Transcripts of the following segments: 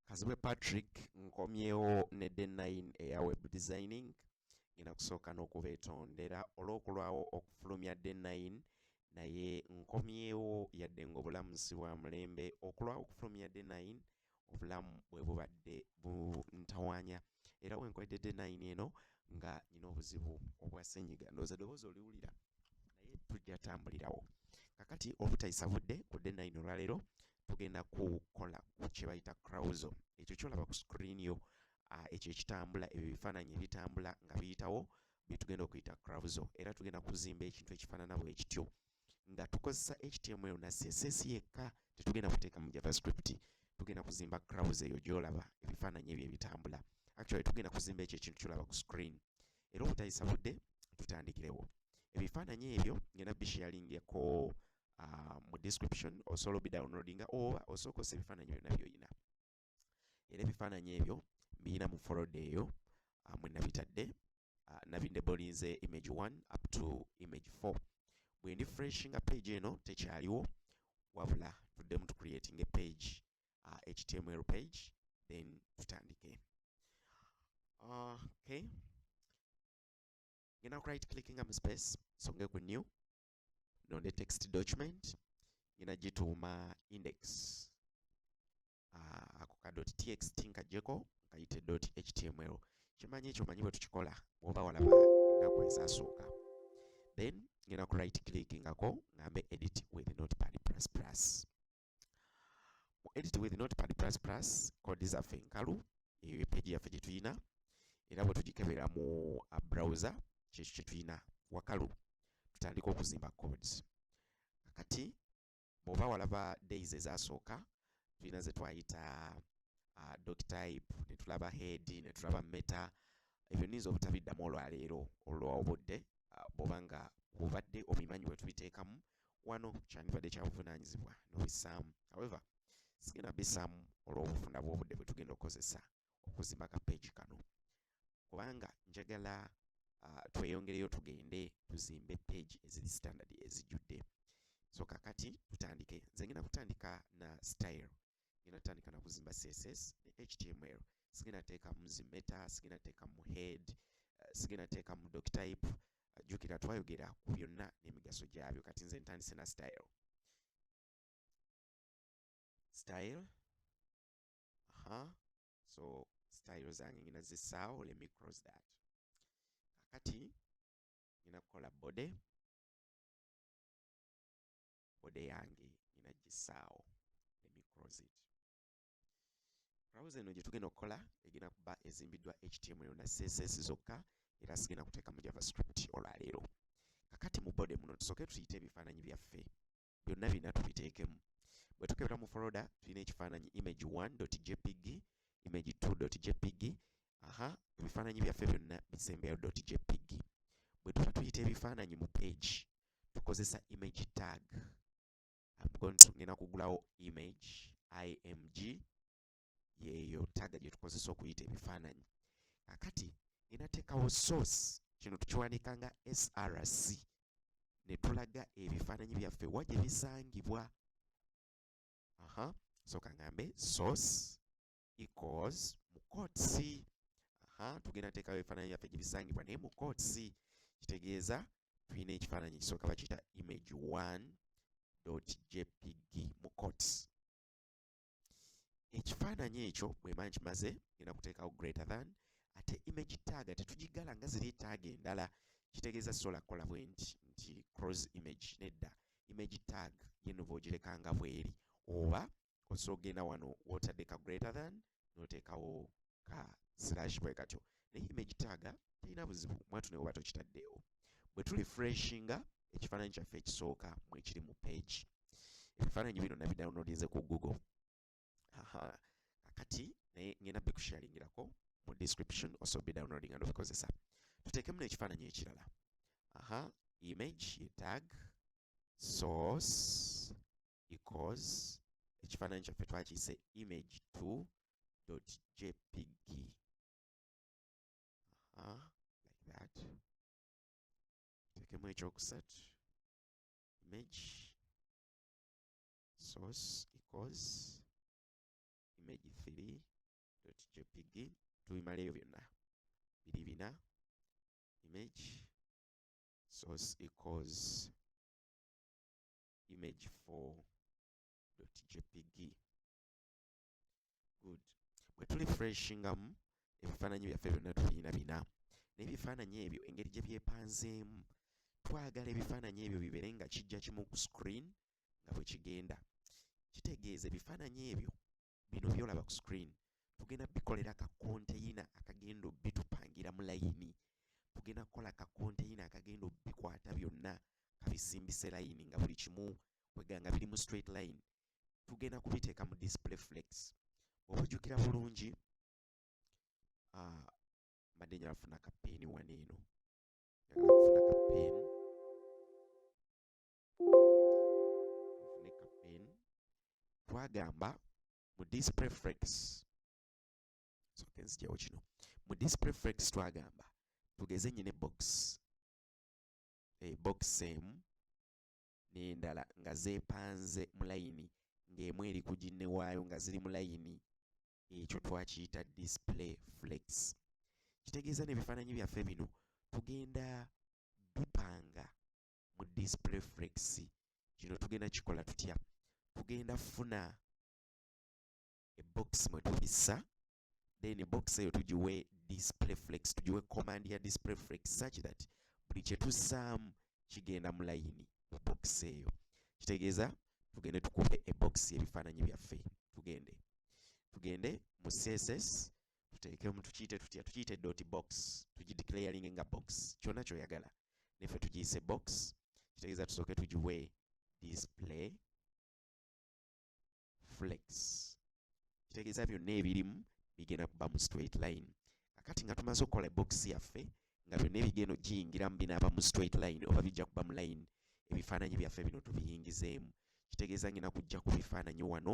kazibwe patrick nkomyewo ne de 9 eya web designing ngenda kusooka n'okubeetondera olw'okulwawo okufulumya de 9 naye nkomyewo yadde ng'obulamu si bwa mulembe okulwawo okufulumya de 9 obulamu bwe bubadde buntawaanya era wenkwededde nayini eno nga nyina obuzibu obwa senyiga ndowooza doboozi oliwulira naye tujja tambulirawo kakati obutayisa budde ku de nayini olwaleero tugenda kukola ku kyebayita crowso ekyo kyolaba ku screen yo ah, ekyo ekitambula ebyo bifaananyi ebitambula nga biyitawo byetugenda okuyita crowso era tugenda kuzimba ekintu ekifaanana bwekityo ekityo nga tukozesa html na css yekka tetugenda kuteeka mu javascript tugenda kuzimba crowds eyo gyolaba ebifaananyi ebyo ebitambula actually tugenda kuzimba ekyo ekintu kyolaba ku screen era obutayisa budde tutandikirewo ebifaananyi ebyo ngenda bisharingeko uh, mu description osobola obidownloadinga oba osooka osa ebifaananyi byonna byolina era ebifaananyi ebyo mbirina mu foloda eyo ah, mwe nabitadde ah, nabinde bolinze image 1 up to image 4 bwe ndi freshinga page eno tekyaliwo wabula tuddemu tu creating a page uh, html page then tutandike okay ngenda ku right clickinga mu space songe ku new no ne text document ngenda gituuma index ah, ako ka dot txt nkajeko nkayite dot html kimanyi ekyo manyi bwe tukikola bwoba walaba ennaku ezasooka then ngenda ku right click ngako ngambe edit with notepad plus plus mu edit with notepad plus plus code zaffe enkalu eyo page yaffe gye tulina era bwe tugikebera mu uh, browser kyekyo kye tulina wakalu tutandika okuzimba codes kati bw'oba walaba days ezasooka tulina ze twayita uh, doc type ne tulaba head ne tulaba meta ebyo niyinza obutabiddamu olwaleero olwobudde uh, bw'oba nga bubadde obimanyi bwe tubiteekamu wano kyandibadde kyabuvunaanyizibwa n'obissaamu however sigenda bissaamu olw'obufunda bw'obudde bwe tugenda okukozesa okuzimba ka peegi kano kubanga njagala uh, tweyongereyo tugende tuzimbe peegi eziri standard ezijjudde so kakati tutandike nze ngenda kutandika na style ngenda tandika na kuzimba css ne html sigenda teekamu zi meta sigenda teekamu head eh, sigenda teekamu doc type eh, jukira twayogera ku byonna n'emigaso gyabyo kati nze ntandise na style style aha so style zange ngina zisaawo let me cross that kakati ngina kukola body ode yange nina gisaawo let me close it browser eno gyetugenda okukola egenda kuba ezimbiddwa html na css zokka era sigenda kuteeka mu javascript olwaleero kakati mu bode muno tusooke tuyite ebifaananyi byaffe byonna birina tubiteekemu bwe tukebera mu foloda tulina ekifaananyi image 1.jpg image 2.jpg aha ebifaananyi byaffe byonna bisembeyo.jpg bwe tuba tuyita ebifaananyi mu page tukozesa image tag I'm going to ngenda kugulawo image img yeeyo tag gye tukozesa okuyita ebifaananyi akati ngenda teekawo source kino tukiwandiika nga src ne tulaga ebifaananyi byaffe wa gye bisangibwa aha soka ngambe source equals mu courts aha tugenda teekawo ebifaananyi byaffe gye bisangibwa naye mu courts kitegeeza tulina ekifaananyi ekisooka bakiyita image 1.jpg mu courts ekifaananyi ekyo bwemba nkimaze genda kuteekawo greater than ate image tag ate tugigala nga ziri tag endala kitegeeza sola kola bwenti nti cross image nedda image tag yeno bwogireka nga bweri oba osobola okugenda wano wotadde ka greater than noteekawo ka slash bwe katyo naye image taaga talina buzibu mwatu naye oba tokitaddeewo bwe tuli freshinga ekifaananyi kyaffe ekisooka mwekiri mu page ebifaananyi bino nabidownloadinze ku google kakati naye ngenda bikusharingirako mu description also be downloading and obikozesa tuteekemu n'ekifaananyi ekirala aha image ye tag source equals ekifaananyi kyaffe twakiyise image 2 dot jpg uh, like that tekemu ekyokusatu image source equals image 3 dot jpg tubimala ebyo byonna biri bina image source equals image 4.jpg good bwe tuli freshingamu ebifaananyi byaffe byonna tulina bina naye ebifaananyi ebyo engeri gye byepanzeemu twagala ebifaananyi ebyo bibeere nga kijja kimu ku screen nga bwe kigenda kitegeeza ebifaananyi ebyo bino byolaba ku screen tugenda bikolera ka konteyina akagenda bitupangira mu layini tugenda kukola ka konteyina akagenda bikwata byonna kabisimbise layini nga buli kimu kweganga biri mu straight line tugenda kubiteeka mu display flex obujjukira bulungi ah, mbadde njala kufuna kapeeni wano eno njagala kufuna kapeeni twagamba mu display flex soke nzijawo kino mu display flex twagamba tugeze nyine box e eh, box emu n'endala nga zeepanze mu layini ng'emu eri ku ginne waayo nga ziri mu layini ekyo twakiyita display flex kitegeeza n'ebifaananyi byaffe bino tugenda bipanga mu display flex kino tugenda kikola tutya tugenda funa ebox mwe tubissa then box eyo tugiwe display flex tugiwe command ya display flex such that buli kye tussaamu kigenda mu layini mu box eyo kitegeeza tugende tukube ebox ebifaananyi byaffe tugende tugende mu css tuteekemu tukiyite tutya tukiyite dot box tugideclaringe nga box kyonna kyoyagala neffe tugiyise box kitegeeza tusooke tugiwe display flex kitegeeza byonna ebirimu bigenda kuba mu straight line kakati nga tumaze okukola box yaffe nga byonna ebigeno giyingiramu binaaba mu straight line oba bijja kuba mu line ebifaananyi byaffe bino tubiyingizeemu kitegeeza ngina kujja ku bifaananyi wano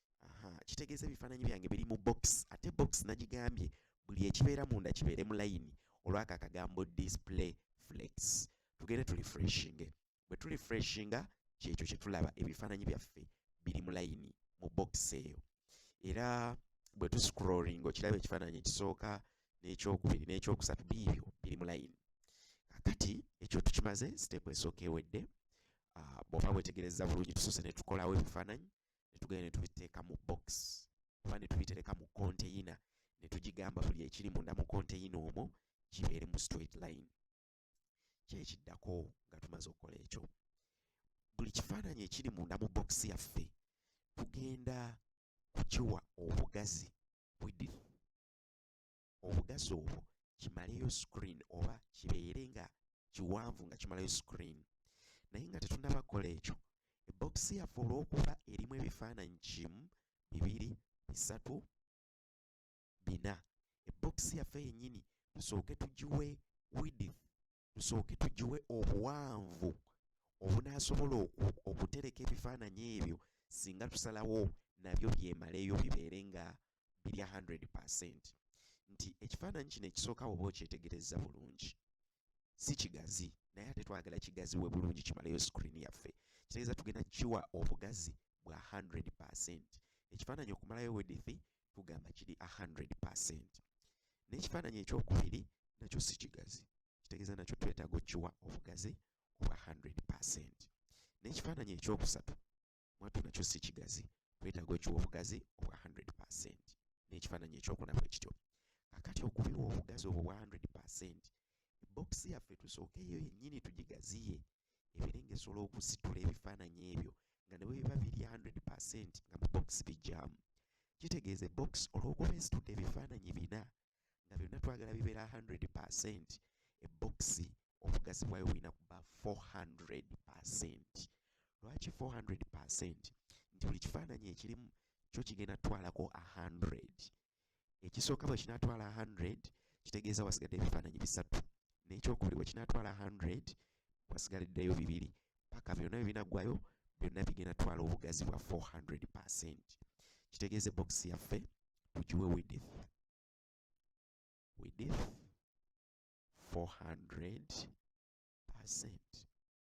aha kitegeeza ebifaananyi byange biri mu box ate box nagigambye buli ekibeera munda kibeere mu layini olwako akagambo display flex tugende tuli freshinge bwe tuli freshinga kyekyo kyetulaba ebifaananyi byaffe biri mu layini mu box eyo era bwe tuscrolling okiraba ekifaananyi ekisooka n'ekyokubiri n'ekyokusatu biibyo biri mu layini kakati ekyo tukimaze siteepu esooka ewedde ah, bw'oba wetegereza bulungi tusoose ne tukolawo ebifaananyi ne tugenda ne tubiteeka mu box oba ne tubitereka mu konteyina ne tugigamba buli ekiri munda mu konteyina omwo kibeere mu straight line kyekiddako nga tumaze okukola ekyo buli kifaananyi ekiri munda mu box yaffe tugenda kukiwa obugazi bwedif obugazi obwo kimaleyo screen oba kibeere nga kiwanvu nga kimalayo screen naye nga tetunaba kukola ekyo ebbokisi yaffe olw'okuba erimu ebifaananyi kimu bibiri bisatu bina ebbokisi yaffe yennyini tusooke tugiwe widith tusooke tugiwe obuwanvu obunaasobola okutereka ebifaananyi ebyo singa tusalawo nabyo byemaleyo bibeere nga birya 100 percent nti ekifaananyi kino ekisooka woba okyetegereza bulungi si kigazi naye ate twagala kigazi we bulungi kimaleyo screen yaffe kitegeeza tugenda kiwa obugazi bwa 100 percent ekifaananyi okumalayo wedithi tugamba kiri 100 percent n'ekifaananyi ekyokubiri nakyo si kigazi kitegeeza nakyo twetaaga okiwa obugazi obwa 100 percent n'ekifaananyi ekyokusatu mwatu nakyo si kigazi twetaaga okiwa obugazi obwa 100 percent n'ekifaananyi ekyokuna bwe kityo kakati okubiwa obugazi obwo bwa 100 percent ebokisi yaffe tusookeeyo yennyini tugigaziye ebeere ng'esobola okusitula ebifaananyi ebyo nga ne bwe biba biri 100 percent nga mu box bijjamu kitegeeza box olw'okuba esitudde ebifaananyi bina nga byonna twagala bibeera 100 percent ebbokisi obugazi bwayo bulina kuba 400 percent lwaki 400 percent nti buli kifaananyi ekirimu kyo kigenda twalako 100 ekisooka bwe kinaatwala 100 kitegeeza wasigadde ebifaananyi bisatu n'ekyokubiri bwe kinaatwala 100 wasigaliddeyo bibiri paka byonna bye binaggwayo byonna bigenda twala obugazi bwa 400 percent kitegeeza ebokisi yaffe tugiwe widith widith 400 percent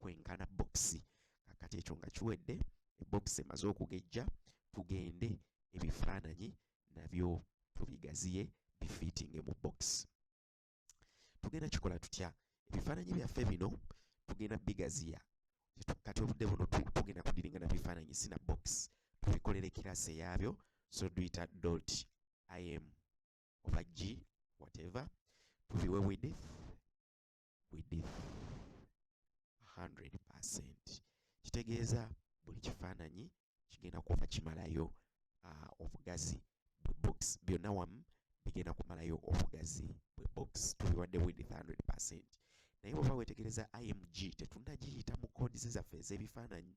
kwenkana bokisi kakati ekyo nga kiwedde ebokisi emaze okugejja tugende ebifaananyi nabyo tubigaziye bifiitinge mu bokisi tugenda kikola tutya ebifaananyi byaffe bino tugenda bigaziya kati obudde buno tugenda kudiringa na bifaananyi sina bokisi tubikolera ekirasi eyaabyo so duita dot im oba g whatever tubiwe widith width 100% kitegeeza buli kifaananyi kigenda kuba kimalayo uh, obugazi bwe box byonna wamu bigenda kumalayo obugazi bwe box tubiwadde width 100% naye bwoba wetegereza img tetunagiyita mu codes zaffe ez'ebifaananyi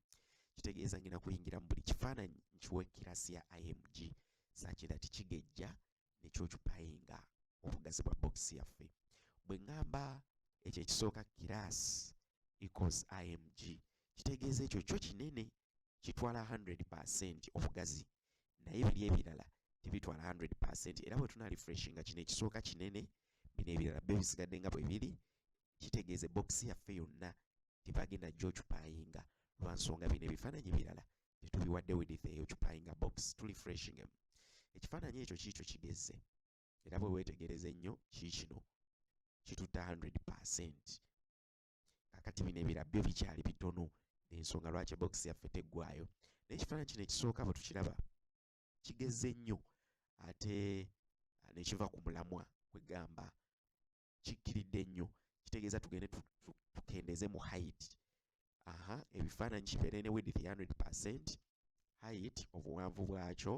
kitegeeza ngina kuyingira mu buli kifaananyi nkiwa ekirasi ya img sakira tikigejja nekyocupayinga obugazi bwa bokisi yaffe bwe ŋŋamba ekyo ekisooka kiraasi ecos img kitegeeza ekyo kyo kinene kitwala 100 percent obugazi naye biri ebirala tebitwala 100 percent era bwe tuna refreshinga kino ekisooka kinene bino ebirala byo bisigadde nga bwe biri kitegeeza bokisi yaffe yonna tebagenda gyocupayinga lwa nsonga bino ebifaananyi birala tetubiwadde widith eyo cupayinga box tuli freshing emu ekifaananyi ekyo kiikyo kigezze era bwe weetegereza ennyo kiikino kitutte 100 percent kakati bino ebira byo bikyali bitono ensonga lwaki box yaffe teggwayo naye ekifaananyi kino ekisooka bwe tukiraba kigezze nnyo ate nekiva ku mulamwa kwegamba kikkiridde nnyo kitegeeza tugende tukendeeze mu height aha ebifaananyi kibeere ne width 100 percent height obuwanvu bwakyo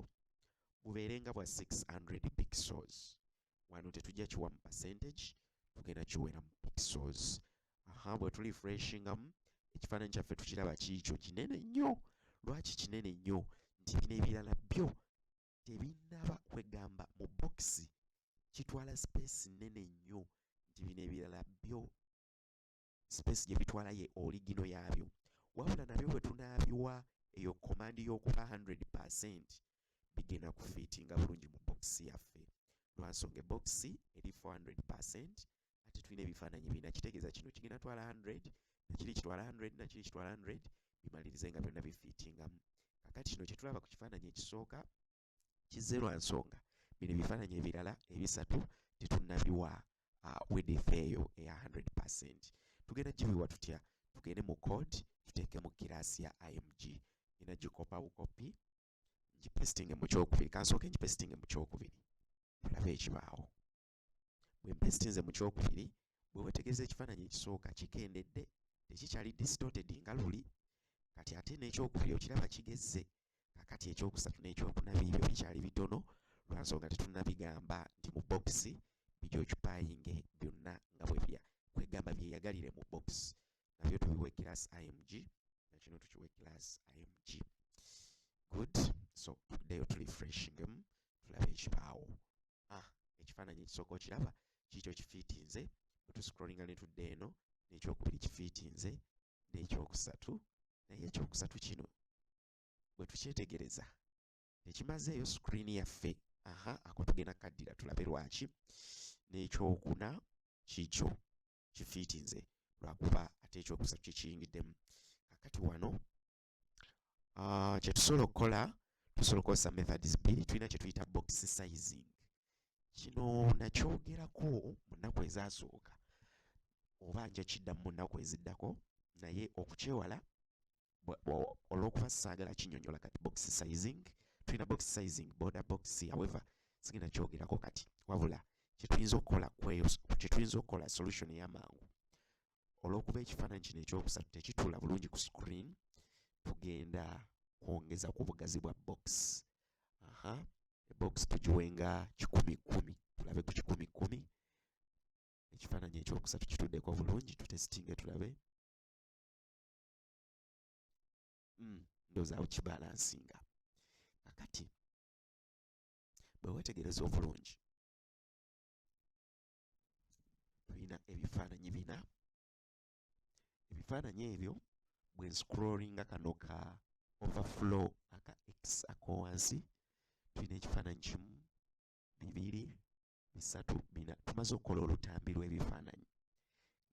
bubeere nga bwa 600 pixels wano tetujja kiwa mu percentage tugenda kiwera mu pixels aha bwe tuli freshingamu ekifaananyi kyaffe tukiraba kiikyo kinene nnyo lwaki kinene nnyo nti bino ebirala byo tebinnaba kwegamba mu bokisi kitwala sipeesi nnene nnyo nti bino ebirala byo sipeesi gye bitwala ye oligino yaabyo wabula nabyo bwe tunaabiwa eyo komandi y'okuba 100 percent bigenda kufiitinga bulungi mu bokisi yaffe lwansonga ebokisi eri 400 percent ate tulina ebifaananyi bina kitegeeza kino kigenda twala 100 nakiri kitwala 100 nakiri kitwala 100 bimalirize nga byonna bifiitingamu kakati kino kyetulaba ku kifaananyi ekisooka kizze lwa nsonga bino ebifaananyi ebirala ebisatu tetunnabiwa uh, wedefe eyo eya 100 percent tugenda gibiwa tutya tugende mu code tuteeke mu kiraasi ya img ina gikopa bukopi ngipestinge mu kyokubiri kansooke ngipestinge mu kyokubiri tulabe ekibaawo bwe mpestinze mu kyokubiri bwe wetegereza ekifaananyi ekisooka kikendedde tekikyali distorted nga luli kati ate n'ekyokubiri okiraba kigezze kakati ekyokusatu n'ekyokuna biibyo bikyali bitono lwansonga tetunabigamba nti mu bokisi bijokyupayinge byonna nga bwe bya kwegamba byeyagalire mu bokisi nabyo tubiwe class img nakino tukiwe class img good so tuddeyo tulifreshingemu tulabe ekibaawo ah ekifaananyi ekisooka okiraba kiikyo kifiitinze bwe tuscrollinga ne tudda eno n'ekyokubiri kifiitinze n'ekyokusatu naye ekyokusatu kino bwe tukyetegereza tekimazeeyo screen yaffe aha ako tugenda kaddira tulabe lwaki n'ekyokuna kiikyo kifiitinze lwakuba ate ekyokusatu kyekiyingiddemu kakati wano uh, kyetusobola okukola tusobola okukozesa methods bbiri tulina kyetuyita box sizing kino nakyogerako mu nnaku ezasooka oba nja kiddamu mu nnaku eziddako naye okukyewala olwokuba saagala kinyonyola kati box sizing tulina box sizing border box however sigenda kyogerako kati wabula kyetuyinza okukola kweyo kyetuyinza okukola solution eyamangu olw'okuba ekifaananyi kino ekyokusatu tekituula bulungi ku screen tugenda kwongeza ku bugazi bwa box aha box tugiwenga kikumi kumi tulabe ku kikumi kumi ekifaananyi ekyokusatu kituddeko bulungi tutesitinge tulabe hmm, ndozaawo kibalansinga kakati bwe wetegereza obulungi tulina ebifaananyi bina ebifaananyi ebyo bwe nscrollinga kano ka overflow aka x akowansi tulina ekifaananyi kimu bibiri bisatu bina tumaze okukola olutambi lw'ebifaananyi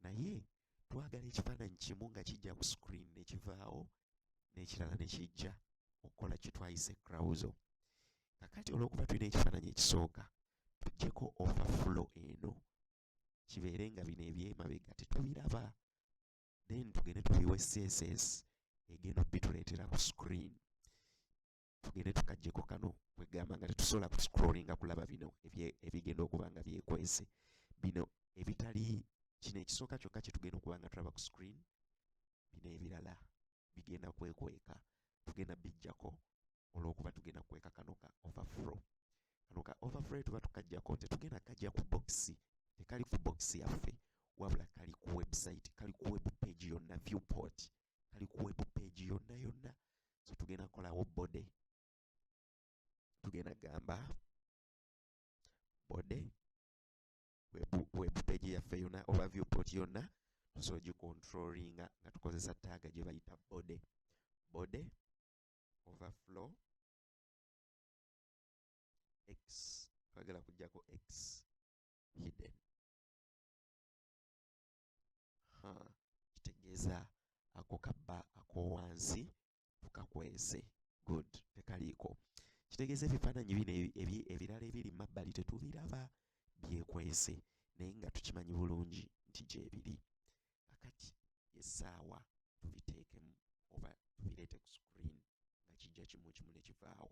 naye twagala ekifaananyi kimu nga kijja ku screen nekivaawo n'ekirala ne kijja okukola kye twayise crowso kakati olw'okuba tulina ekifaananyi ekisooka tujjeko overflow eno kibeere nga bino ebyemabega tetubiraba then tugende tubiwe css egenda obituleetera ku screen tugende tukajjeko kano kwegamba nga tetusobola ku scrollinga kulaba bino ebigenda okuba nga byekwese bino ebitali kino ekisooka kyokka kyetugenda okuba nga tulaba ku screen bino ebirala bigenda kwekweka tugenda bijjako olwokuba tugenda kukweka kano ka overflow kano ka overflow tuba tukajjako nti tugenda kajja ku box tekali ku box yaffe wabula kali ku website kali ku web page yonna viewport kali ku web page yonna yonna so tugenda kolawo body tugenda gamba body web, web page yaffe yonna oba viewport yonna tusobola gicontrollinga nga tukozesa taaga gye bayita body body overflow x twagala kujjako x hidden ha kitegeeza ako kabba akowansi tukakwese good tekaliiko kitegeeza ebifaananyi bino ebirala ebiri mabbali tetubiraba byekwese naye nga tukimanyi bulungi nti gyebiri akati esaawa tubiteekemu oba tubireete ku screen nga kijja kimu kimu nekivaawo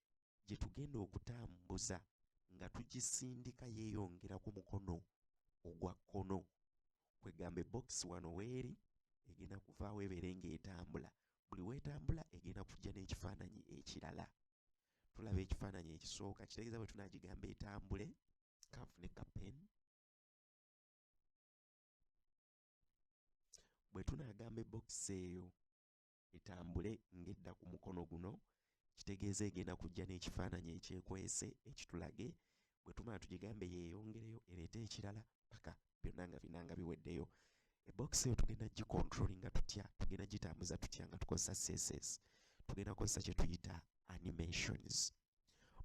gye tugenda okutambuza nga tugisindika yeeyongera ku mukono ogwa kkono kwegamba ebokisi wano weeri egenda kuvaawo ebeere ng'etambula buli weetambula egenda kujja n'ekifaananyi ekirala tulaba ekifaananyi ekisooka kitegeeza bwe tunaagigamba etambule kanfune kapen bwe tunaagamba ebokisi eyo etambule ng'edda ku mukono guno kitegeeza egenda kujja n'ekifaananyi ekyekwese ekitulage bwe tumala tugigambe yeeyongereyo ereete ekirala paka byonna nga bina nga biweddeyo ebokisi eyo tugenda gikontroli nga tutya tugenda gitambuza tutya nga tukozesa css tugenda kukozesa kye tuyita animations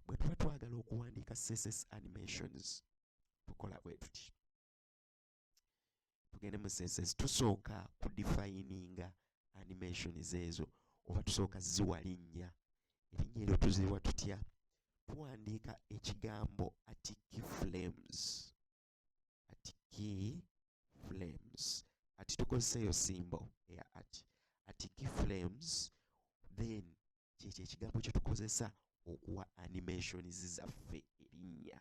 bwe tuba twagala okuwandiika css animations tukola bwe tuti tugende mu senses tusooka ku defininga animations ezo oba tusooka ziwa linnya erinnya eryo tuziwa tutya tuwandiika ekigambo ati key flames ati key flames ati tukozesa eyo simbo eya ati ati key flames then kyekyo ekigambo kyetukozesa okuwa animations zaffe erinnya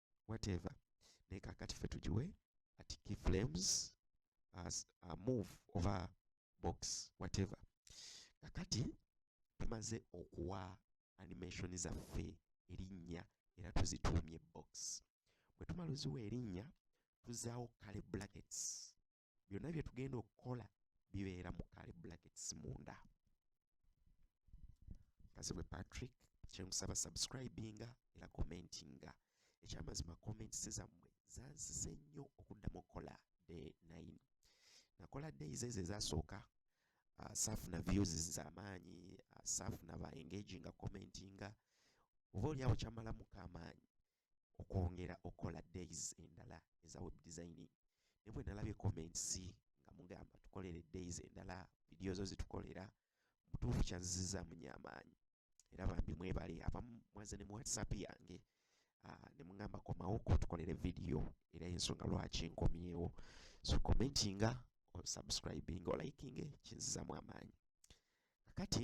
whatever naye kakati fe tugiwe ati key flames as a move oba box whatever kakati tumaze okuwa animation zaffe erinnya era tuzituumye box bwe tumala oziwa erinnya tuzaawo kale brackets byonna bye tugenda okukola bibeera mu kale blackets munda kazibwe patrick kyenkusaba subscribinga era commentinga ekyamazima comments zammwe zansize nnyo okuddamu okukola day 9 nakola days ezo ezasooka uh, saafuna views zamaanyi uh, saafuna ba engaginga commentinga oba olyawo kyamalamuko amaanyi okwongera okukola days endala eza web designing ne bwe nalabye comments nga mugamba tukolere days endala vidiyo zo zitukolera mutuufu kyanziziza munye amaanyi era bambi mwebale abamu mwaze ne mu whatsapp yange ah, ne mugamba komawo kutukolere vidiyo era ensonga lwaki nkomyewo so commentinga osubscribing olikinge kinzizamu amaanyi kakati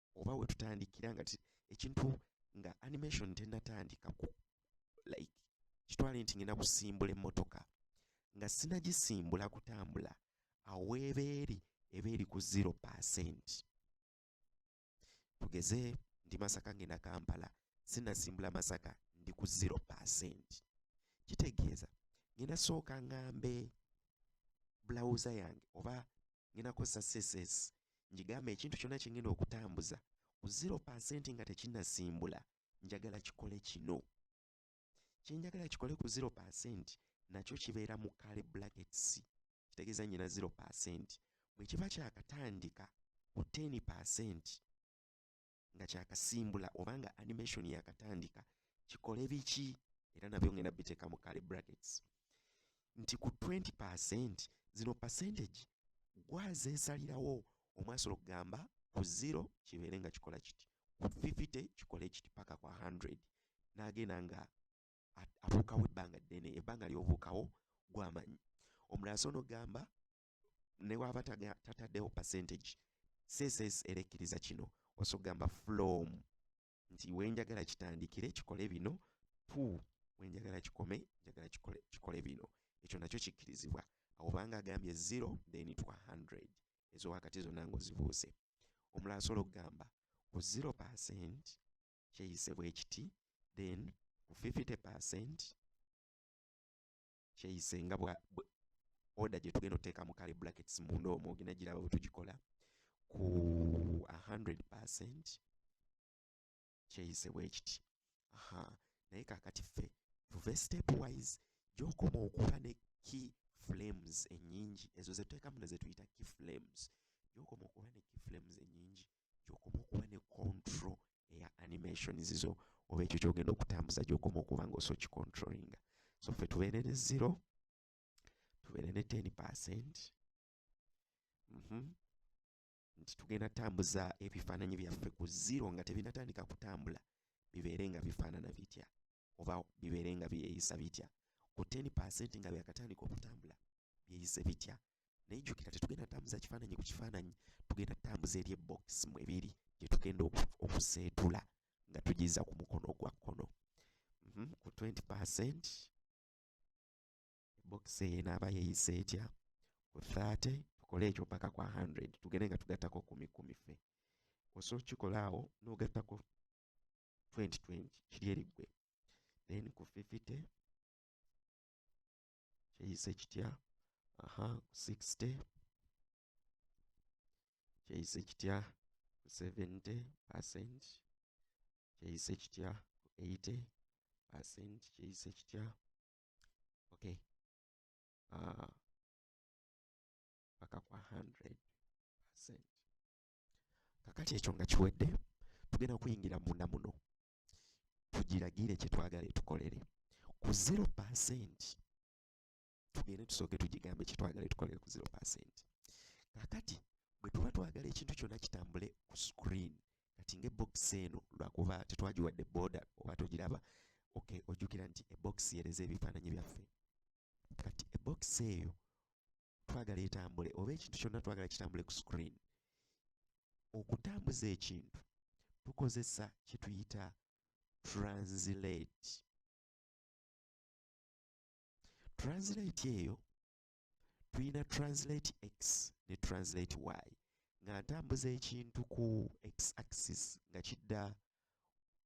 oba wetutandikira nga ekintu nga animation tenatandika ku like kitwale nti ngenda kusimbula emmotoka nga sinagisimbula kutambula awo weeba eri eba eri ku zero percent tugeze ndi masaka ngenda kampala sinasimbula masaka ndi ku zero percent kitegeeza ngenda sooka ngambe bulawuza yange oba ngenda kukozesa css ngigamba ekintu kyonna kyengenda okutambuza ku zero percent nga tekinasimbula njagala kikole kino kyenjagala kikole ku zero percent nakyo kibeera mu kale blackets kitegeeza nyina zero percent bwe kiba kyakatandika ku ten percent nga kyakasimbula oba nga animation yakatandika kikole biki era nabyo ngenda biteeka mu kale brackets nti ku 20 percent zino percentage gwazesalirawo omwasola okugamba ku zero kibeere nga kikola kiti ku 50 kikole kiti paka kwa 100 nagenda nga abuukawo ebbanga ddene ebbanga lyobuukawo gwamanyi omulala so nogamba ne waba tataddewo percentage css era ekkiriza kino osa okugamba from nti wenjagala kitandikire kikole bino to wenjagala kikome njagala kikole, kikole bino ekyo nakyo kikkirizibwa awo banga agambye 0 then to 100 ezo wakati zonna ngaozibuuse omulala asobola okugamba ku 0 percent kyeyise bwekiti then ku 50 percent kyeyise nga bwa order gye tugenda oteeka mu kale brackets munda omwo ogenda giraba bwe tugikola ku 100 percent kyeyise bwe kiti aha naye kakati ffe tuve step wise gyokoma okuba ne key flames enyingi ezo zetuteekamu ne zetuyita key flames gyokoma okuba ne key flames enyingi gyokoma okuba ne control eya animations zo oba ekyo kyogenda okutambuza gyokoma okuba nga oso kicontrollinga so ffe tubeere ne zero tubeere ne ten percent mm -hmm. nti tugenda tambuza ebifaananyi byaffe ku zero nga tebinatandika kutambula bibeere nga bifaanana bitya oba bibeere nga byeyisa bitya ku ten percent nga byakatandika okutambula byeyise bitya naye jjukira tetugenda tambuza kifaananyi ku kifaananyi tugenda tambuza eri ebokisi mwe biri gye tugenda okuseetula nga tugiza ku mukono ogwa kkono mhm, ku 20 percent ebokisi eyo enaaba yeyisa etya ku 30 tukole ekyo mpaka kwa 100 tugende nga tugattako kumi kumi fe osobola okukikola awo n'ogattako 2020 kiri eriggwe then ku 50 kyeyise kitya aha 60 kyeyise kitya 70 percent kyeyise kitya 80 percent kyeyise kitya okay uh, paka kwa 100 percent kakati ekyo nga kiwedde tugenda kuyingira munda muno tugiragire kye twagala etukolere ku zero pasenti tugende tusooke tugigambe kye twagala etukolere ku zero pasenti kakati bwe tuba twagala ekintu kyonna kitambule ku screen kati ng'ebbokisi eno lwakuba tetwagiwadde booda oba togiraba okay ojjukira nti ebbokisi yereza ebifaananyi byaffe kati ebbokisi eyo twagala etambule oba ekintu kyonna twagala kitambule ku screen okutambuza ekintu tukozesa kyetuyita translate translate eyo tulina translate x ne translate y nga ntambuza ekintu ku x axis nga kidda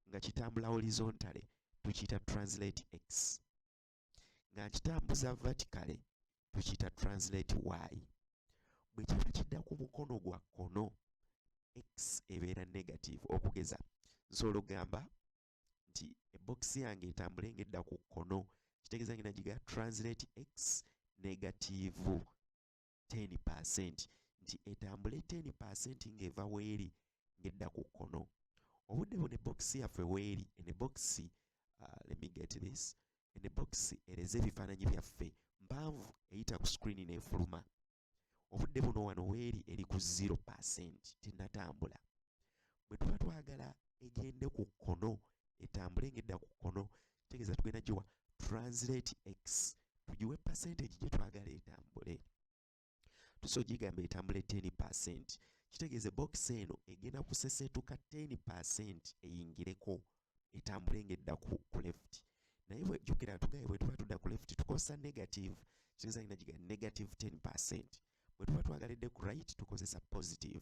nga kitambula horizontale tukiyita translate x nga nkitambuza vertically tukiyita translate y bwe kiba kidda ku mukono gwa kkono x ebeera negative okugeza nsobola okugamba nti ebokisi yange etambule ng'edda ku kkono kitegeeza ngenda giga translate x negative ten percent nti etambule ten percent ng'eva weeri ng'edda ku kkono obudde buno ebbokisi yaffe weeri eno ebbokisi uh, let me get this eno ebbokisi ereze ebifaananyi byaffe mpanvu eyita ku screen n'efuluma obudde buno wano weeri eri ku zero percent tenatambula bwe tuba twagala egende ku kkono etambule ng'edda ku kkono tegeza tugenda giwa translate x tugiwe percentage gye twagala etambule tuso gigamba etambule 10 percent kitegeeze box eno egenda kusesetuka 10 percent eyingireko etambule ngedda ku, ku left naye bwejukira tugaye bwetuba tudda ku left tukozesa negative kitegeeza ina giga negative 10 percent bwetuba twagalidde ku right tukozesa positive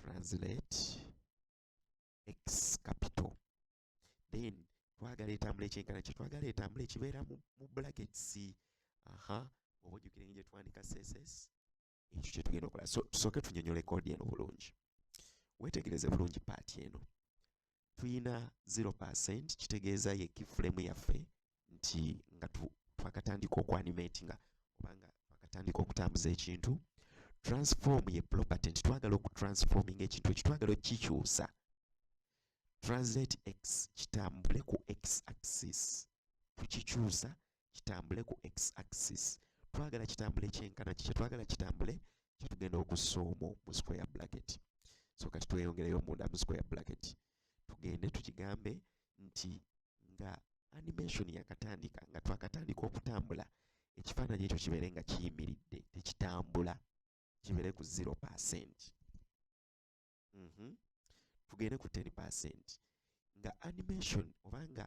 translate x capital then twagala etambula ekyenkana kye twagala etambula ekibeera mu brackets aha oba ojjukire ngi gyetwandika css ekyo kyetugenda okola so tusooke tunyonyole kodi eno bulungi wetegereze bulungi paati eno tuyina 0% kitegeeza ye kifulemu yaffe nti nga twakatandika okuanimatinga obanga twakatandika okutambuza ekintu transform ye property nti twagala okutransforming ekintu ekyo twagala okukikyusa translate x kitambule ku x axis tukikyusa kitambule ku x axis twagala kitambule kyenkana kikye twagala kitambule kyetugenda okussa omwo mu square bracket so kati tweyongereyo munda mu square bracket tugende tukigambe nti nga animation yakatandika nga twakatandika okutambula ekifaananyi ekyo kibeere nga kiyimiridde tekitambula kibeere ku 0 percent mm -hmm. tugende ku 10 percent nga animation obanga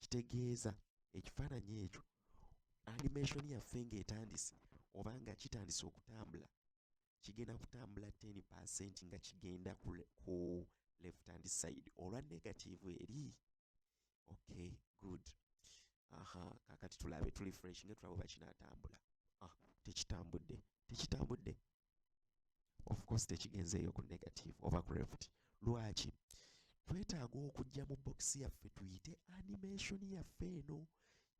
kitegeeza ekifaananyi ekyo animation yaffe ng'etandise oba nga kitandise okutambula kigenda kutambula 10 percent nga kigenda ku, ku left hand side olwa negative eri okay good aha kakati tulabe tuli fresh nga tulaba oba kinaatambula ah, tekitambudde tekitambudde of course tekigenze eyo ku negative oba ku left lwaki twetaaga okujja mu bokisi yaffe tuyite animation yaffe eno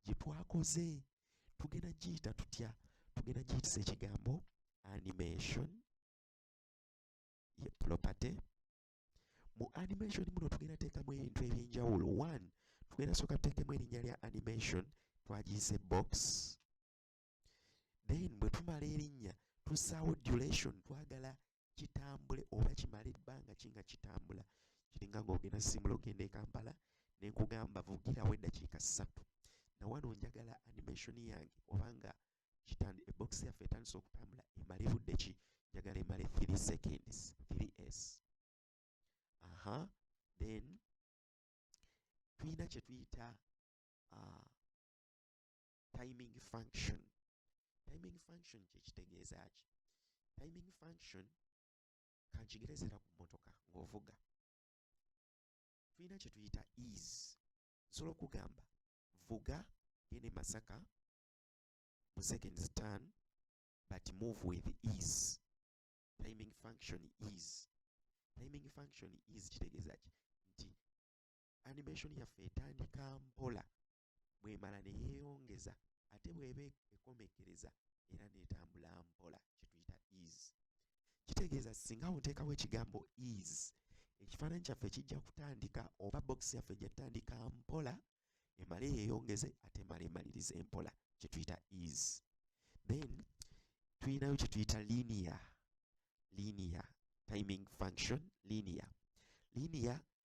gye twakoze tugenda giyita tutya tugenda giyitisa ekigambo animation ye property mu animation muno tugenda teekamu ebintu ebyenjawulo one tugenda sooka tuteekemu erinnya lya animation twagiyise box then bwe tumala erinnya tussaawo duration twagala kitambule oba kimala ebbanga ki nga kitambula kiringa ng'ogenda simula ogenda e kampala ne nkugamba vugirawo eddakiika ssatu na wano njagala animation yange obanga kitandi ebox yaffe etandise okutambula emale budde ki njagala emale 3 seconds 3s aha then tulina kye tuyita uh, timing function timing function kyekitegeeza ki timing function kankigerezera ku mmotoka ng'ovuga tulina kye tuyita is nsobola okugamba vuga gende masaka mu seconds turn but move with is timing function is timing function is kitegeeza ki nti animation yaffe etandika mpola bw'emala ne yeeyongeza ate bw'eba ekomekkereza era n'etambula mpola kye tuyita is kitegeeza singa oteekawo ekigambo is ekifaananyi kyaffe kijja kutandika oba bokisi yaffe ejja tutandika mpola emale yeeyongeze ate emale emaliriza empola kye tuyita is then tulinayo kye tuyita linia linia timing function linia linia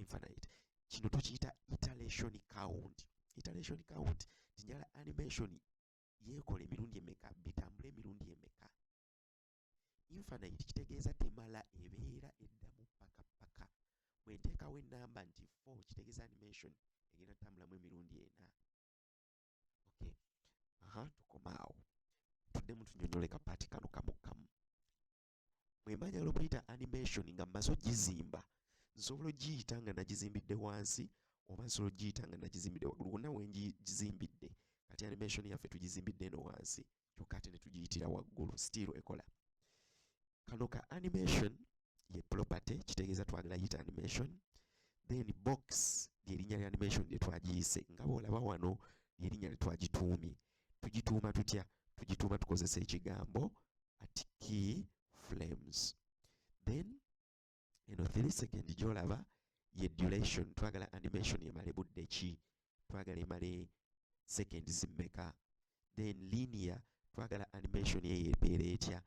infinite kino tukiyita iteration count iteration count tinjala animation yekola emirundi emeka bitambula emirundi emeka infinite kitegeeza temala ebeera eddamu paka paka bwenteekawo enamba nti 4 kitegeeza animation egenda tambulamu emirundi ena okay aha tukomaawo tuddemu tunyonyole kapaati kano kamu kamu mwemba njagala okuyita animation nga mmaze ogizimba nsobola ogiyita nga nagizimbidde wansi oba nsobola ogiyita nga nagizimbidde waggulu wonna wengizimbidde kati animation yaffe tugizimbidde eno wansi kyokka ate ne tugiyitira waggulu still ekola kano ka animation ye property kitegeeza twagala yita animation then box lyerinnya lya animation lye twagiyise nga bwolaba wano lyerinnya lye twagituumye tugituuma tutya tugituuma tukozesa ekigambo at key flames then eno 3 second gyolaba ye duration twagala animation emale budde ki twagala emale second zimmeka then linear twagala animation eyo ebeera etya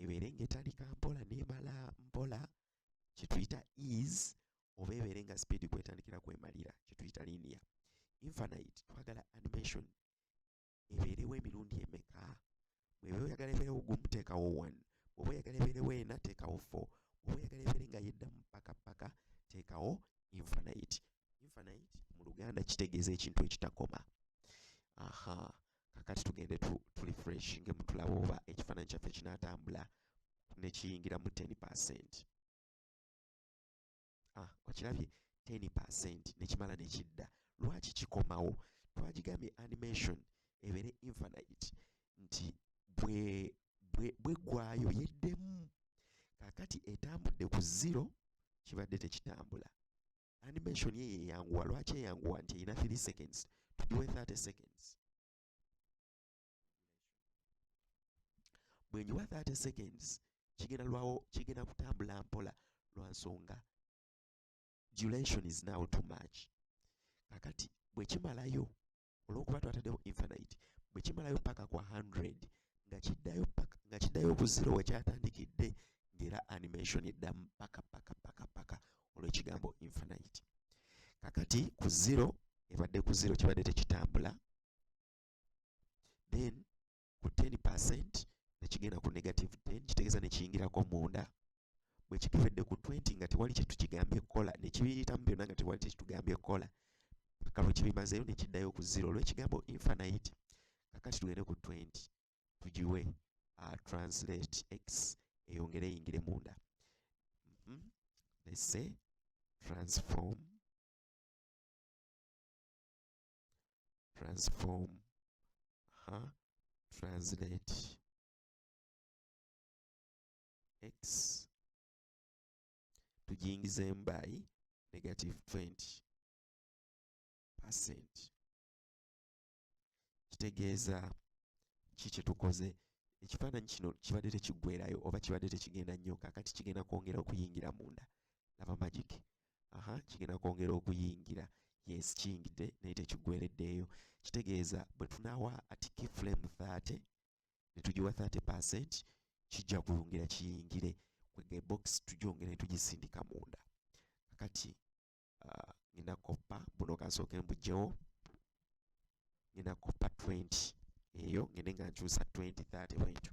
ebeere ngaetandika mpola nemala mpola kyetuyita is oba ebeere nga speed kwetandikira kwemalira kyetuyita linear infinite twagala animation ebeerewo emirundi emeka bweba oyagala ebeerewo gumu teekawo one bwoba oyagala ebeerewo ena teekawo four bwoba oyagala ebeere nga yeddamu paka paka teekawo infinite infinite mu luganda kitegeeza ekintu ekitakoma aha kakati tugende tu, tu refresh nge mutulaba oba ekifaananyi kyaffe kinatambula nekiyingira mu 10 percent ah, okirabye ten percent nekimala nekidda lwaki kikomawo twagigambye animation ebeere infinite nti bwe bweggwayo bwe yeddemu kakati etambudde ku zero kibadde tekitambula animation ye yeyanguwa lwaki eyanguwa nti erina 3 seconds tugiwe 30 seconds bwenyiwa 30 seconds kigenda lwawo kigenda kutambula mpola lwa nsonga duration is now too much kakati bwekimalayo olwokuba twatadewo infinite bwekimalayo paka kwa 100 nga kiddayo paka nga kiddayo ku zero wekyatandikidde ngera animation eddamu paka paka paka paka olwekigambo infinite kakati ku zero ebadde ku zero kibadde tekitambula then ku 10 percent nekigenda ku negative 10 kitegeeza nekiyingirako munda bwe kituvedde ku 20 nga tewali kyetukigambye kukola nekibiyitamu byonna nga tewali kyekitugambye kukola paka lwe kibimazeeyo nekiddayo ku zero olwekigambo infinite kakati tugende ku 20 tugiwe uh, translate x eyongere eyingire munda mm -hmm. let's say transform transform ha translate x tujingizemu by negative 20 percent kitegeeza ki kyetukoze ekifaananyi kino kibadde tekiggwerayo oba kibadde tekigenda nnyo kakati kigenda kwongera okuyingira munda laba magic aha kigenda kwongera okuyingira yes kiyingidde naye tekigwereddeeyo kitegeeza bwe tunawa atiki flame 30 ne tugiwa 30 percent kijja kuyungira kiyingire kwega ebox tugyongera ne tugisindika munda kakati uh, ngenda koppa buno kansooke mbugyewo ngenda koppa 20 eyo ngende nga nkyusa 20 30 bwentyo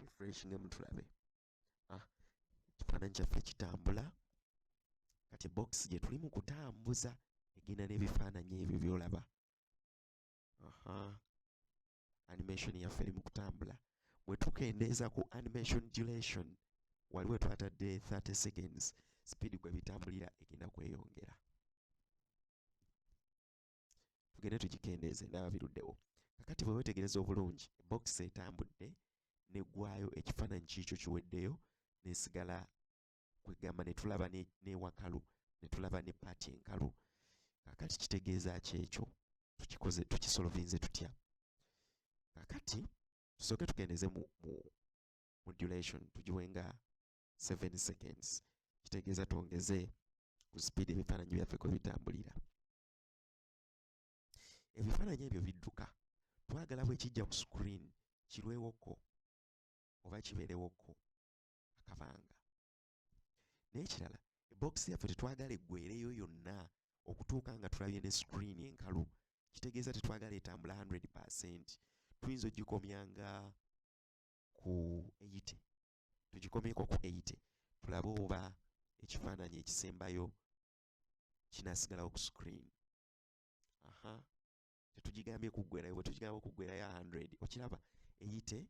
refreshinge mutulabe ah, ekifaananyi kyaffe kitambula kati box gye tuli mu kutambuza egenda n'ebifaananyi ebyo byolaba aha animation yaffe eri mu kutambula bwe tukendeeza ku animation duration waliwo twatadde 30 seconds speed gwe bitambulira egenda kweyongera tugende tugikendeeze ndaba biruddewo kakati bwe wetegereza obulungi box etambudde negwayo ekifaananyi kiikyo kiweddeyo nesigala kwegamba netulaba newakalu netulaba ne paati enkalu kakati kitegeeza ki ekyo tukikoze tukisolovinze tutya kakati tusooke tugendeze mu, mu, mu duration tugiwe nga 7 seconds kitegeeza twongeze ku speed ebifaananyi byaffe kwe bitambulira ebifaananyi ebyo bidduka twagala bwe kijja ku screen kirwewoko oba kibeerewoko akabanga n'ekirala ebokisi yaffe tetwagala eggwereyo yonna okutuuka nga tulabye ne screen enkalu kitegeeza tetwagala etambula 100 percent tuyinza ogikomya nga ku 80 tugikomyeko ku 80 tulabe oba ekifaananyi ekisembayo kinasigalawo ku screen aha tetugigambye kuggwerayo bwe tugigamba okuggwerayo 100 okiraba eyite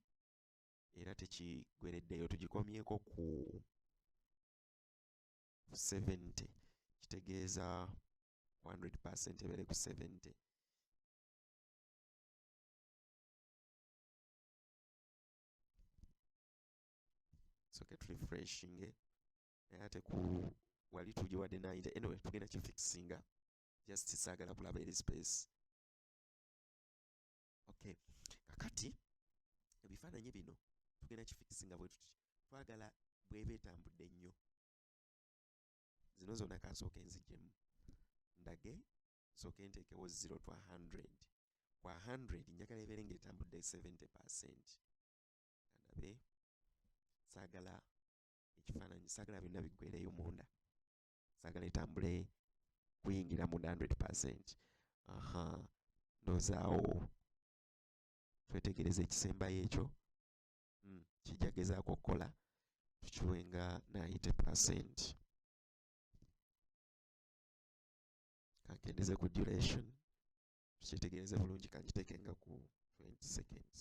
era tekigwereddeyo tugikomyeko ku 70 kitegeeza 100 percent ebeere ku 70 soke turefreshinge naye ate ku wali tugiwadde nayinja anyway tugenda kifixinga just saagala kulaba eri space okay kakati ebifaananyi bino tugenda kifikisi nga bwetuti twagala bweba etambudde nnyo zino zona kansooka enzijemu ndage sooke nteekewo zero twa 100 kwa 100 njagala ebeere nga etambudde 70 percent andabe saagala ekifaananyi saagala byonna biggwereyo munda sagala etambule kuyingira mu 100 aha ndozaawo twetegereza ekisembayo ekyo hmm, kijja gezaako okukola tukiwe nga 90 percent kankendeze ku duration tukyetegereze bulungi kankiteeke nga ku 20 seconds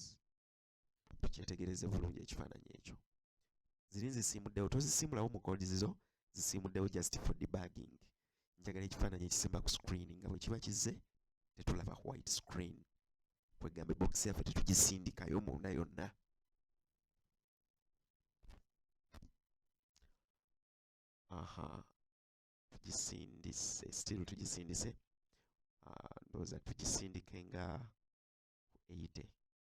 tukyetegereze bulungi ekifaananyi ekyo ziri nzisiimuddewo tozisiimulawo mu gold zizo zisiimuddewo just for debugging njagala ekifaananyi ekisimba ku screen nga bwe kiba kizze tetulaba ku white screen kwegamba ebokisi yaffe tetugisindikayo munda yonna aha tugisindise still tugisindise ah, ndowooza tugisindike nga 80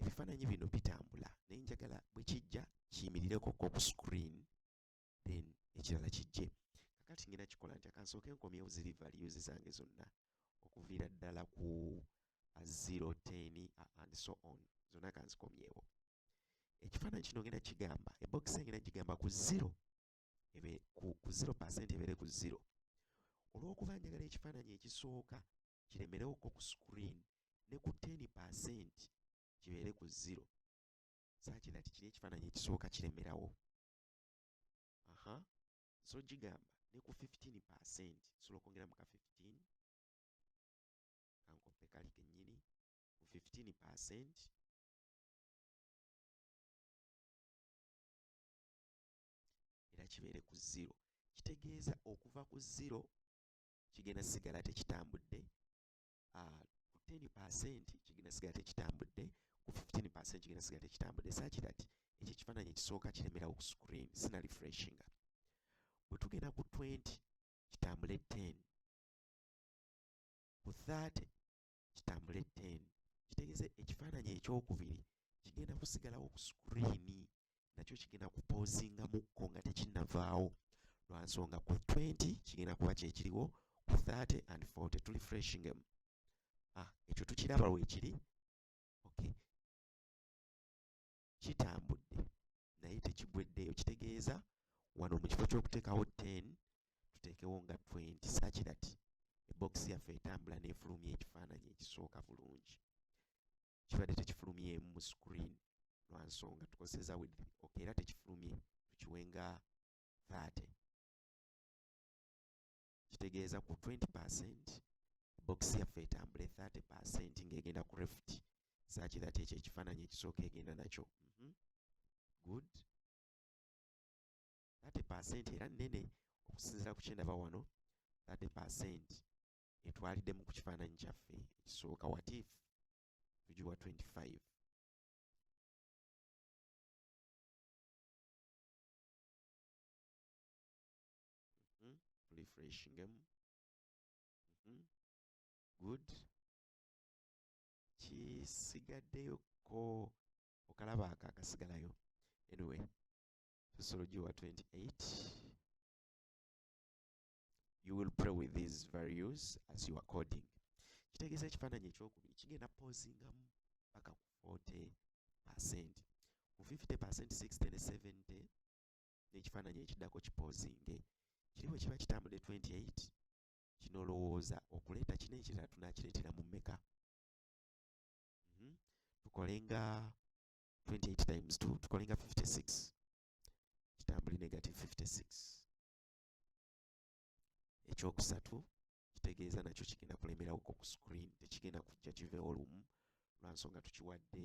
ebifaananyi bino bitambula naye njagala bwe kijja kiyimirireko ko ku screen then ekirala kijje kakati ngena kikola nti akansooke nkomyewo ziri values zange zonna okuviira ddala ku 010 and so on zonna kanzikomyewo ekifaananyi kino ngenda kigamba ebokisi engenda kigamba ku 0 ebe ku 0 percent ebeere ku 0 olw'okuba njagala ekifaananyi ekisooka kiremerewoko ku screen ne ku 10 percent kibeere ku zero saakina ti kiri ekifaananyi ekisooka kiremerawo aha so gigamba ne ku 15 percent nsobola okwongeramu ka 15 kankoppe kali kennyini ku 15 percent era kibeere ku zero kitegeeza okuva ku zero kigenda sigala tekitambudde ah, ku ten percent kigenda sigala tekitambudde ku fifteen percent kigenda sigala tekitambudde saki that ekyo ekifaananyi ekisooka kiremerawo ku screen sina refreshinga bwe tugenda ku twenty kitambule ten ku thirty kitambule ten kitegeeza ekifaananyi ekyokubiri kigenda kusigalawo ku sikuriini nakyo kigenda kupoozingamukko nga tekinnavaawo lwa nsonga ku 20 kigenda kuba kyekiriwo ku 30 and 40 tuli freshingem ah, ekyo tukiraba weekiri okay. kitambudde naye tekigweddeeyo kitegeeza wano mu kifo ky'okuteekawo 10 tuteekewo nga 20 sakirati ebokisi yaffe etambula n'efulumya ekifaananyi ekisooka bulungi kibadde tekifulumyemu mu screen lwa nsonga tukozeseza with ok era tekifulumye tukiwe nga 30 kitegeeza ku 20 percent box yaffe etambule 30 percent ng'egenda ku refit saaki that ekyo ekifaananyi ekisooka egenda nakyo mm -hmm. good 30 percent era nnene okusinziira ku kyendaba wano 30 percent etwaliddemu ku kifaananyi kyaffe ekisooka watif tugiwa 25 Thank you. Mhm. refreshingemu Mhm. good kisigaddeyo ko okalaba ako akasigalayo anyway sociology wa 28 you will pray with these values as you are coding kitegeeza ekifaananyi ekyokubiri kigenda pozingamu paka ku 40 percent ku 50 percent 60 ne 70 n'ekifaananyi ekiddako kipoozinge kiri bwe kiba kitambudde 28 kino olowooza okuleeta kino ekirala tunakireetera mu mmeka mhm. tukole nga 28 times 2 tukole nga 56 kitambuli negative 56 ekyokusatu kitegeeza nakyo kigenda kulemerawo ku screen tekigenda kujja kiveewo lumu lwansonga tukiwadde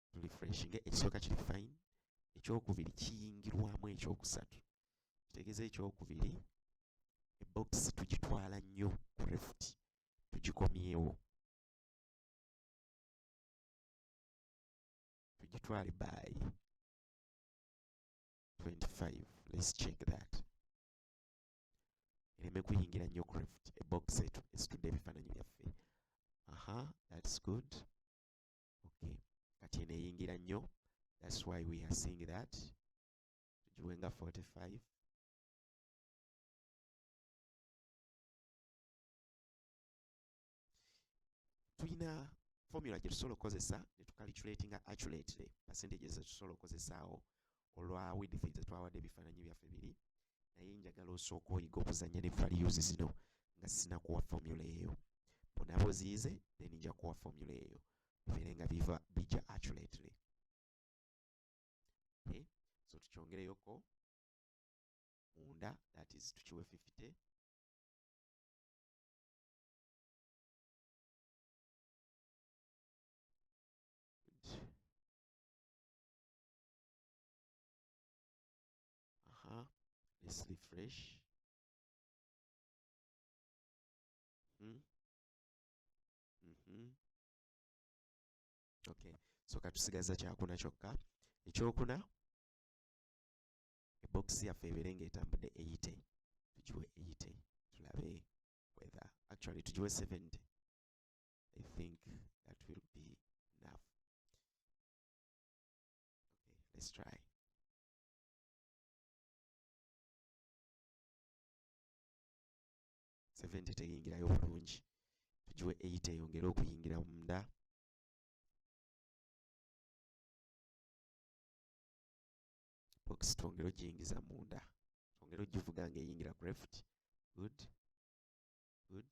tulifreshinge ekisooka kiri fine ekyokubiri kiyingirwamu ekyokusatu kitegeeza ekyokubiri ebokisi tugitwala nnyo ku refuti tugikomyewo tugitwale by 25 let's check that ereme kuyingira nnyo ku refuti ebokisi etudde ebifaananyi byaffe aha that's good okay kati eno eyingira nnyo that's why we are seeing that tugiwe nga 45 tulina formula gye tusobola okukozesa ne tucalculatinga accurately percentages ze tusobola okukozesaawo olwa width nze twawadde ebifaananyi byaffe biri naye njagala osooka oyiga okuzanya ne values zino nga sinakuwa formula eyo bwonaba oziyize then nja kuwa formula eyo bibeere nga biva bija accurately okay. so tukyongereyoko munda that is tukiwe 50 Good. Aha, let's refresh. Hmm? Mm -hmm. Okay, so katusigaza kyakuna kyokka ekyokuna ebokisi yaffe ebeere ng'etambudde eyite tugiwe eyite tulabe whether actually tugiwe 70 i think that will be Let's try. Seventy teyingirayo bulungi tugiwe eight eyongere okuyingira munda box twongere ogiyingiza munda twongere ogivuga nga eyingira ku left good good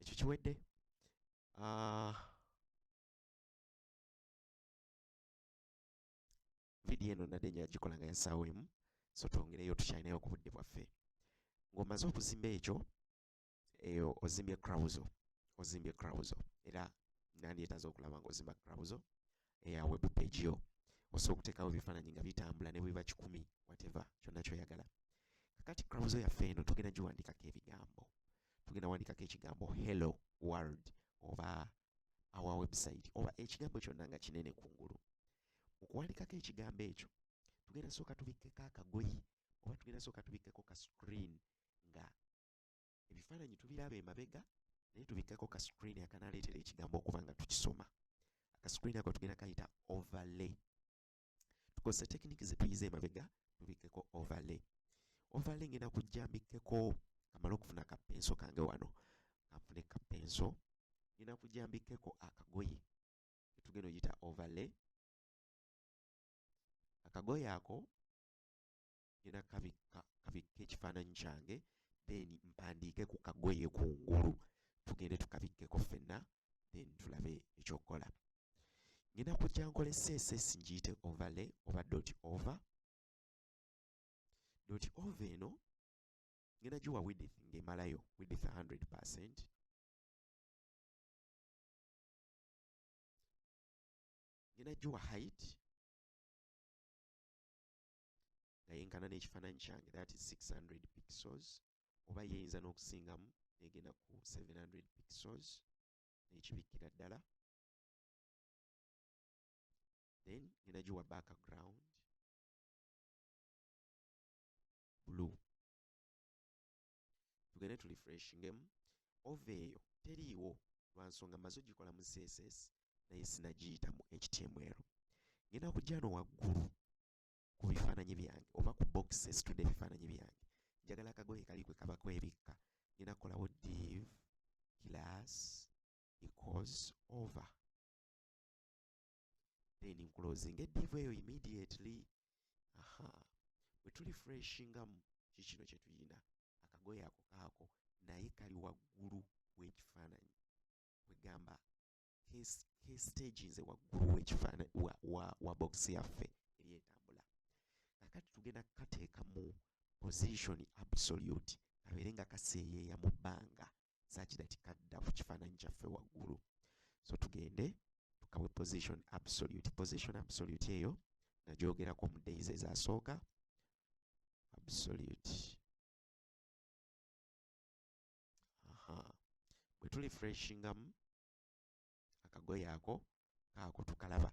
ekyo kiwedde ah, vidiyo eno nadde nyo yagikola nga yasaawo emu so twongereyo tukyalinayo ku budde bwaffe ng'omaze okuzimba ekyo eyo ozimbye crowzo ozimbye crowzo era nandyetaza okulaba nga ozimba crowzo eya web page yo osobola okuteekawo ebifaananyi nga bitambula ne bweba kikumi whatever kyonna kyoyagala kakati crowzo yaffe eno tugenda giwandiikako ebigambo tugenda wandikako ekigambo hello world oba our website oba ekigambo kyonna nga kinene ku ngulu mu kuwandikako ekigambo ekyo tugenda sooka tubikkeko akagoyi oba tugenda sooka tubikkeko ka screen nga ebifaananyi tubiraba emabega naye tubikkako ka screen akanaleetera ekigambo okuba nga tukisoma ka screen ako tugenda kayita overlay tukozesa tekiniki zetuyiza emabega tubikkeko overlay overlay ngenda kujja mbikkeko kamala okufuna kapenso kange wano kanfune kapenso ngenda kujja mbikkeko akagoye etugenda oyita overlay akagoye ako ngena kabikka kabikka ekifaananyi kyange then mpandiike ku kagoye kungulu tugende tukabikkeko ffenna then tulabe ekyokukola ngenda kujja nkole css ngiyite overlay oba dot over dot over eno ngenda giwa widith ng'emalayo widith 100 percent ngenda giwa height nga yenkana n'ekifaananyi kyange that is 600 pixels oba yeyinza n'okusingamu negenda ku 700 pixels nekibikkira ddala then ngenda giwa background blue tugende tu refreshingemu ova eyo teriiwo lwansonga maze ogikola mu css naye sinagiyita mu html ngenda kujja no waggulu ku bifaananyi byange oba ku box esitudde ebifaananyi byange njagala akagoye kali kwe kaba kwebikka ngenda kukolawo div class equals over then nkulozinga edivu eyo immediately aha wetuli freshingamu kikino kyetuyina akagoye ako kaako naye kali waggulu w'ekifaananyi kwegamba he stages waggulu wekifaana wa, wa, wa box yaffe eri etambula kakati tugenda kukateeka mu position absolute kabeere nga kaseeyeeya mu bbanga sakida tikadda ku kifaananyi kyaffe waggulu so tugende tukawe position absolute position absolute eyo nagyogerako mu days ezasooka absolute aha bwe tuli freshingamu akagoye ako kaako tukalaba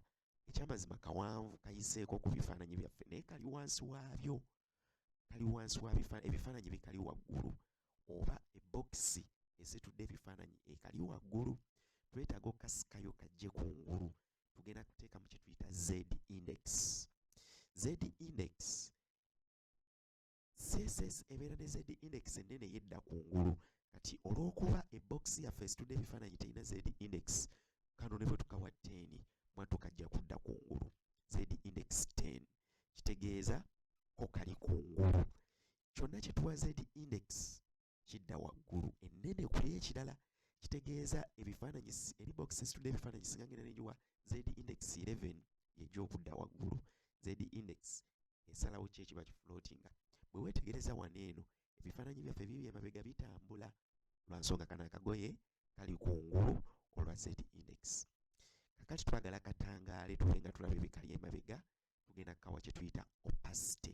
ekyamazima kawanvu kayiseeko ku bifaananyi byaffe naye kali wansi waabyo kali wansi wa ebifaananyi bikali waggulu oba ebokisi ezitudde ebifaananyi ekali waggulu twetaaga okukasikayo kajje ku ngulu tugenda kuteeka mu kyetuyita z index z index CSS ebeera ne zedi index ennene yedda ku ngulu kati olw'okuba ebbokisi yaffe esitudde ebifaananyi terina zedi index kano ne bwe tukawa teeni mwattu kajja kudda ku ngulu zedi index ten kitegeeza ko kali ku ngulu kyonna kye tuwa zedi index kidda waggulu ennene ku ekirala kitegeeza ebifaananyi eri box situde ebifaananyi singa ngenda nenjiwa z index 11 yejja okudda waggulu z index esalawo ki ekiba kiflootinga bwe weetegereza wano eno ebifaananyi byaffe bibi emabega bitambula lwa nsonga kana akagoye kali ku ngulu olwa z index kakati twagala katangaale tube nga tulaba ebikali emabega tugenda kukawa kye tuyita opacity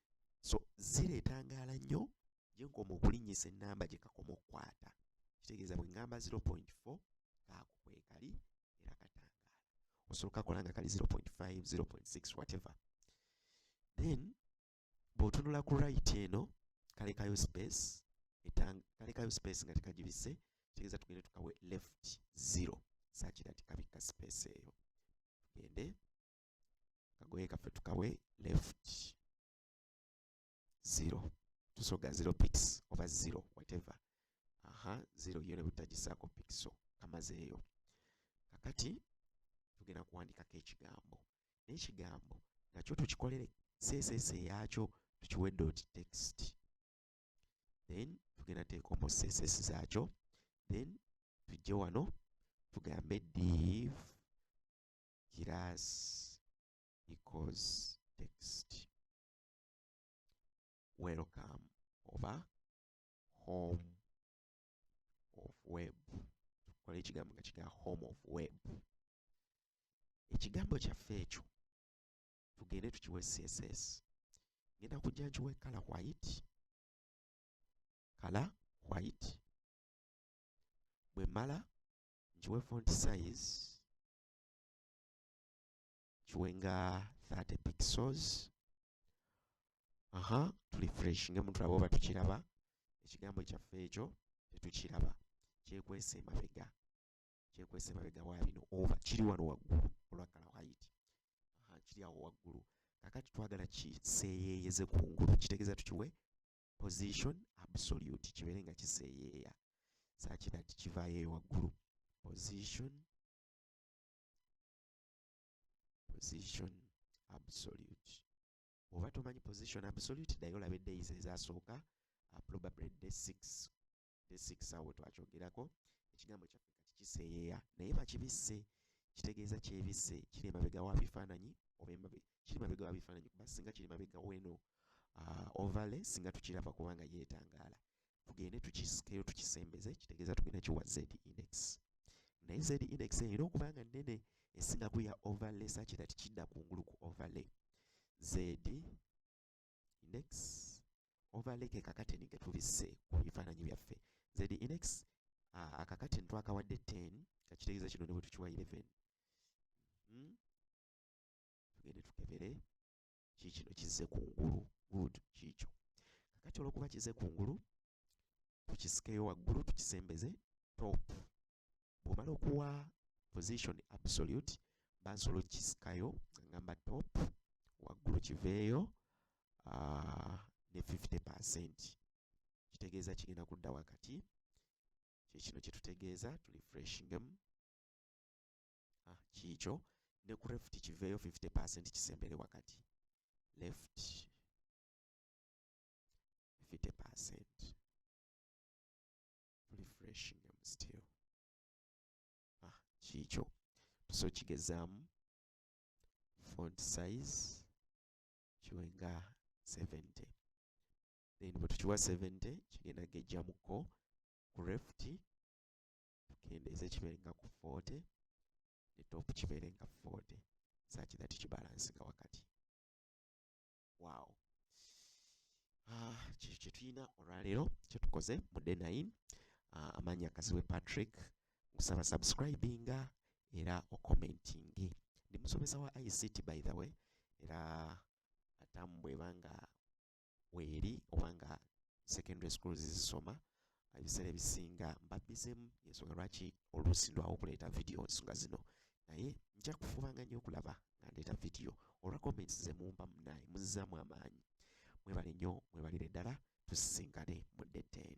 so zira etangaala nnyo gye nkoma okulinnyisa ennamba gye kakoma okukwata kitegeeza bwe ŋŋamba 0.4 kaako kwekali era katangaala osobola okakola nga kali 0.5 0.6 whatever then bw'otunula ku right eno kalekayo space kalekayo space nga tekagibise kitegeeza tugende tukawe left 0 saakira tikabikka space eyo tugende kagoye kaffe tukawe left zero tusoga zero pics oba zero whatever aha zero yone butagisaako pixel kamazeeyo kakati tugenda kuwandikako ekigambo n'ekigambo nakyo tukikolere seeseese yaakyo tukiwe dot text then tugenda teeka omu seeseesi zaakyo then tujje wano tugambe div Giraasi equals text welcome oba home of web tukola ekigambo nga kiga home of web ekigambo kyaffe ekyo tugende tukiwe css ngenda kujja nkiwe kala white kala white bwe mala nkiwe font size kiwe nga 30 pixels aha tulifreshinge mutulaba oba tukiraba ekigambo kyaffe ekyo tetukiraba kyekwese emabega kyekwese emabega wa bino oba kiri wano waggulu olwakala waiti kiri awo waggulu kakati twagala kiseeyeeyeze kungulu kitegeeza tukiwe position absolute kibeere nga kiseeyeeya sakira nti kivaayo eyo waggulu position position absolute oba tomanyi position absolute dayo olabe days ezasooka uh, probably day 6 ne six awo twakyogerako ekigambo kyaffe kati kiseeyeeya naye bakibisse kitegeeza kyebisse kiri emabega wa bifaananyi oba embabe kiri mabega wa bifaananyi kuba singa kiri mabega weno uh, ovale singa tukiraba kubanga yeetangaala tugende tukisikeyo tukisembeze kitegeeza tugenda kiwa z index naye z index erina okuba nga nnene esinga kuya overlay sakira tikidda kungulu ku overlay z index overlay ke kakateni ke tulisse ku bifaananyi byaffe z index uh, akakateni twakawadde 10 kakitegeeza kino ne bwe tukiwa 11 hmm? tugende tukebere kiikino kizze ku ngulu good kiikyo kakati olwokuba kizze ku ngulu tukisikeyo waggulu tukisembeze top bwomala okuwa position absolute bansobola okukisikayo ngamba top waggulu kiveeyo ah, ne 50 percent kitegeeza kigenda kudda wakati kyekino kyetutegeeza tulifreshingemu ah, kiikyo ne ku left kiveeyo 50 percent kisembere wakati left 50% refreshing am still ah kikyo so kigezaamu font size kiwe nga 70 then bwe tukiwa 70 kigenda gejjamuko ku reft tukendeeze kibeere nga ku 40 ne top kibeere nga 40 saki that kibalansinga wakati waawo ah, kyekyo kyetulina olwaleero kyetukoze mu day nine ah, amaanya kasiwe patrick nkusaba subscribinga era okomentinge ndi musomesa wa ict by the way era atamu bwebanga weeri obanga secondary schools zisoma ebiseera ebisinga mbabbizemu yensonga lwaki oluusi ndwawo okuleeta vidiyo nsonga zino naye nja kufubanga nnyo okulaba nga ndeeta vidiyo olwa comments ze mumba munaye muzizaamu amaanyi mwebale nnyo mwebalire ddala tusisinkane mu dde 10